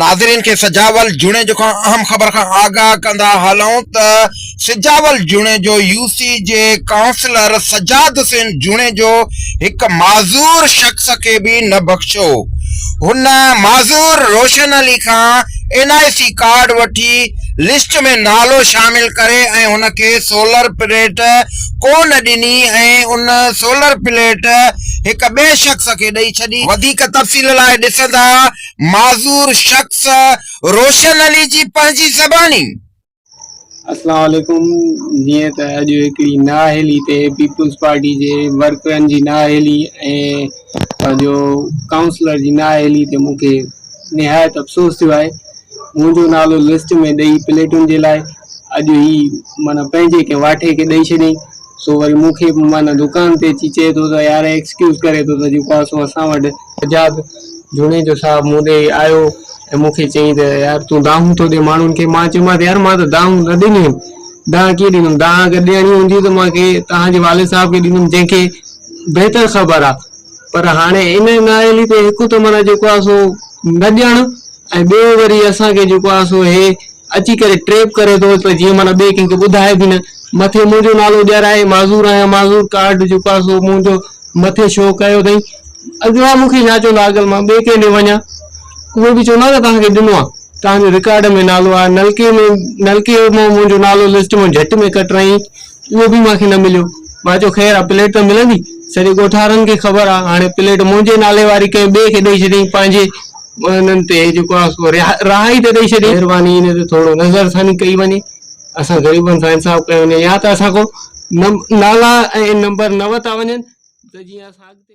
ناظرين کي سجاول جوڻيجو کان اهم خبر کان آگاهه ڪندا هلون ته سجاول جوڻيجو يو سي جي ڪائونسلر سجاد حسين جوڻيجو هڪ معذور شخص کي به نه بخشيو هن معذور روشن علي کان اين آء سي ڪارڊ وٺي لسٽ ۾ نالو شامل ڪري ۽ هن کي سولر پليٽ ڪو نه ڏني ۽ ان سولر پليٽ هڪ ٻئي شخص کي ڏئي ڇڏي. وڌيڪ تفصيل لاء ڏسندا معذور شخص روشن علي جي پنهنجي زباني. السلام عليڪم جيئن ته اڄ هڪڙي نااهلي تي پيپلز پارٽي جي ورڪرن جي نااهلي ۽ پنهنجو ڪائونسلر جي نااهلي تي مون کي نهايت افسوس ٿيو آهي منهنجو نالو لسٽ ۾ ڏئي پليٽن جي لاء اڄ هي معنيٰ پنهنجي ڪنهن واٺي کي ڏئي ڇڏيائين سو وري مون کي معنيٰ دڪان تي اچي چئي ٿو ته يار ايڪسڪيوز ڪري ٿو ته جيڪو آ سو اسان وٽ سجاد جوڻيجو صاحب مون ڏي آيو ۽ مون کي چيائين ته يار تون دانهون ٿو ڏي ماڻهن کي مان چيومانس يار مان ته دانهون نه ڏنيون آهن دانهن ڪيئن ڏيندم دانهن اگر ڏيڻي هوندي ته مان کي توهان جي والد صاحب کي ڏيندم جنهن کي بهتر خبر آ پر هاڻي ان نااهلي تي هڪ ته معنيٰ جيڪو آ سو نه ڏيڻ ۽ ٻيو وري اسان کي جيڪو آهي سو هي اچي ڪري ٽريپ ڪري ٿو ته جيئن معنيٰ ٻئي ڪنهن کي ٻڌائي به نه مٿي منهنجو نالو ڄرائي معذور آهيان معذور ڪارڊ جيڪو آهي سو منهنجو مٿي شو ڪيو اٿئي اڳيان مون کي ڇا چوندو اگر مان ٻئي ڪنهن ڏي وڃان اهي به چوندا نه توهان کي ڏنو آهي توهان جو رڪارڊ ۾ نالو آهي نلڪي ۾ نلڪي مان منهنجو نالو لسٽ مان جهٽ ۾ ڪٽرائين اهو به مونکي نه مليو مان چيو خير آ پليٽ ته ملندي سڄي ڳوٺارن کي خبر آ هاڻي پليٽ منهنجي نالي واري ڪنهن ٻئي کي ڏئي ڇڏيائين پنهنجي انهن تي جيڪو آهي سو رهائي ته ڏئي ڇڏي مهرباني ان تي ٿورو نظر ثاني ڪئي وڃي اسان غريبن سان انصاف ڪيو وڃي يا ته اسان کان نالا ۽ نمبر نه ورتا وڃن ته جيئن اسان اڳتي